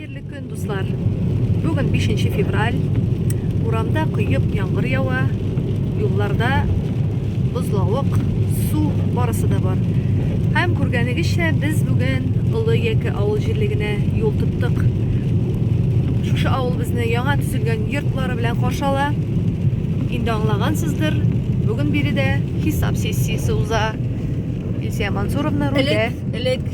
Хәерле көн, дуслар! Бүген 5 февраль. Урамда кыйып яңгыр ява, юлларда бозлавык, су барысы да бар. Һәм күргәнегезчә, без бүген Олы Яке авыл җирлегенә юл тоттык. Шушы авыл безне яңа төзелгән йортлары белән каршы ала. Инде аңлагансыздыр, бүген биредә хисап сессиясе уза. Илсия Мансуровна рульдә. Элек, элек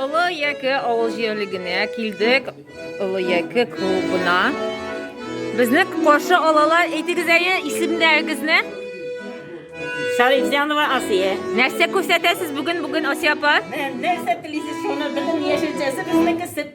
Олы яке авыл җирлегенә килдек. Олы яке клубына. Безне каршы алалар. Әйтегез әле исемнәрегезне. Шарифҗанова Асия. Нәрсә күрсәтәсез бүген бүген Асия апа? Нәрсә телисез, шуны безнең яшелчәсе, безнеке сөт.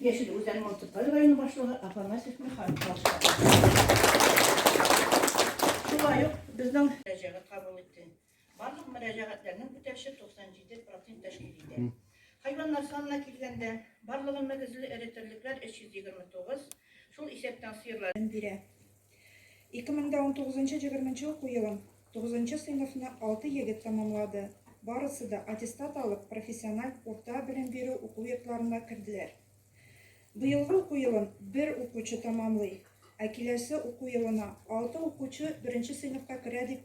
Яшел Үзән муниципаль районы башлыгы Афанасьев Михаил Шулай ук безнең мөрәҗәгать кабул итте. Барлык мөрәҗәгатьләрнең үтәвче 97 процент тәшкил итә. Хайваннар санына килгәндә, барлыгы мөгезле эре терлекләр 329, шул исәптән сыерлар бирә. 2019-20 уку елын 9 сыйныфны 6 егет тәмамлады. Барысы да аттестат алып, профессиональ урта белем бирү уку йортларына керделәр. Быелгы уку елын бер укучы тәмамлый, ә киләсе уку елына алты укучы беренче сыйныфка керә дип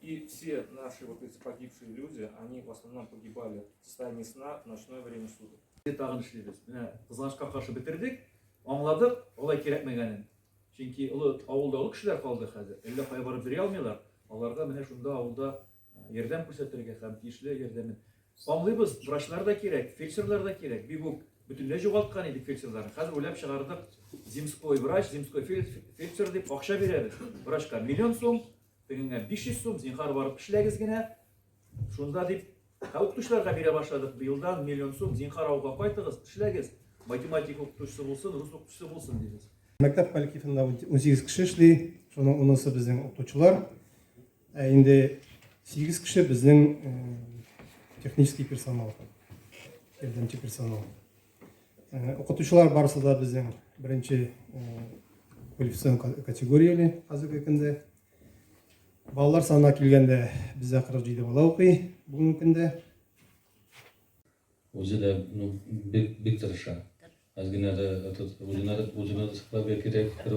И все наши вот эти погибшие люди, они в основном погибали в состоянии сна в ночное время суток. Тагын эшлибез. Менә кызганычка каршы бетердек, аңладык, алай кирәкмәгәнен. Чөнки олы авылда олы кешеләр калды хәзер. Әллә кая барып йөри алмыйлар. Аларга менә шунда авылда ярдәм күрсәтергә һәм тиешле ярдәмен. Аңлыйбыз, врачлар да кирәк, фельдшерлар да кирәк. Бик үк бөтенләй югалткан идек фельдшерларны. Хәзер уйлап чыгардык. Земской врач, земской фельдшер дип акча бирәбез врачка. Миллион сум Тегеңә 500 сум, зинхар барып эшләгез генә. Шунда дип, ә укытучыларга бирә башладык. Быелдан миллион сум, зинхар авылга кайтыгыз, эшләгез. Математика укытучысы булсын, рус укытучысы булсын, дибез. Мәктәп коллективында 18 кеше эшли, шуның унысы безнең укытучылар. Ә инде 8 кеше безнең технический персонал, ярдәмче персонал. Э, укытучылар барысы да безнең беренче э, квалификацион категорияле хәзерге көндә. Балалар санына килгәндә бездә 47 бала укый бүгенге көндә. Үзе дә ну, бик, бик тырыша. Әзгенә дә үзенә дә саклап кирәк, бер